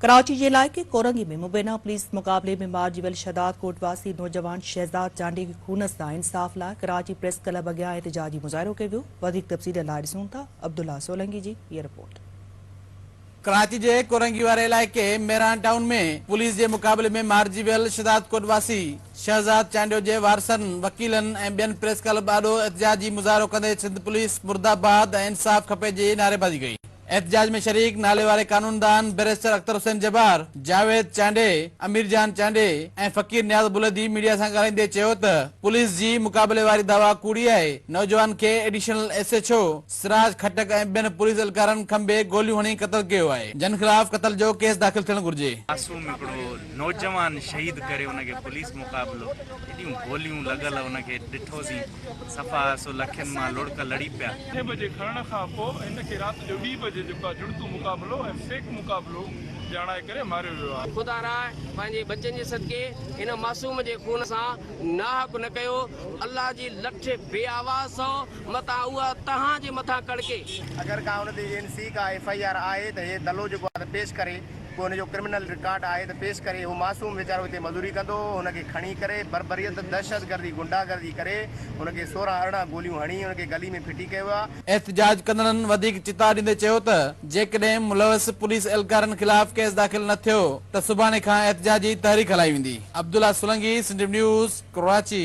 ڪراچي جي علائقي ڪورنگي ۾ مبينا پوليس مقابلي ۾ مارجي ويل شهداد ڪوٽ واسي نوجوان شهزاد چانڊيي کي خون سان انصاف لاء ڪراچي پريس ڪلب اڳيان احتجاجي مظاهرو ڪيو ويو وڌيڪ تفصيل لاء ڏسون ٿا عبدالله سولنگي جي هيء رپورٽ. ڪراچي جي ڪورنگي واري علائقي ميران ٽائون ۾ پوليس جي مقابلي ۾ مارجي ويل شهداد ڪوٽ واسي شهزاد چانڊيو جي وارثن، وڪيلن ۽ ٻين پريس ڪلب آڏو احتجاجي مظاهرو ڪندي سنڌ پوليس مرداباد ۽ انصاف کپي جي نعريبازي ڪئي. احتجاج ۾ شريڪ ناليواري قانوندان بئريسٽر اختر حسين جبار، جاويد چانڊئي، امير جان چانڊئي ۽ فقير نياز بلدي ميڊيا سان ڳالهائيندي چيو ته پوليس جي مقابلي واري دعويٰ ڪوڙي آهي، نوجوان کي additional S H O Siraj Khattak ۽ ٻين پوليس اھلڪارن کنڀي گوليون ھڻي قتل ڪيو آھي، جن خلاف قتل جو ڪيس داخل ٿيڻ گھرجي. معصوم ھڪڙو نوجوان شھيد ڪري ان کي پوليس مقابلو ايڏيون گوليون لڳل ان کي ڏٺوسين. صفا سو لکين مان لڙڪ لڙي پيا. اٺين بجي کڻڻ کان پوء هن کي رات جو ٻي بجي جيڪو آهي جڙتو مقابلو ۽ فيڪ مقابلو ڄاڻائي ڪري ماريو ويو آهي. خدا را پنهنجي ٻچن جي صدقي هن معصوم جي خون سان ناحق نه ڪيو. الله جي لٺ بي آواز سئو متان اها توهان جي مٿان ڪڙڪي. اگر ڪا ان تي اين سي ڪا ايف آئي آر آهي ته هي دلو جيڪو آهي ته پيش ڪري. ڪو هن جو ڪرمنل رڪارڊ آهي ته پيش ڪري، هو معصوم ويچارو هتي مزوري ڪندو هو، هن کي کڻي ڪري بربريت، دهشتگردي، غنڊاگردي ڪري هن کي سورهن ارڙهن گوليون هڻي هن کي گلي ۾ ڦٽي ڪيو ويو. احتجاج ڪندڙن وڌيڪ چتاء ڏيندي چيو ته جيڪڏهن ملوث پوليس اهلڪارن خلاف ڪيس داخل نه ٿيو ته سڀاڻي کان احتجاجي تحريڪ هلائي ويندي. عبدالله سولنگي، سنڌ نيوز، ڪراچي.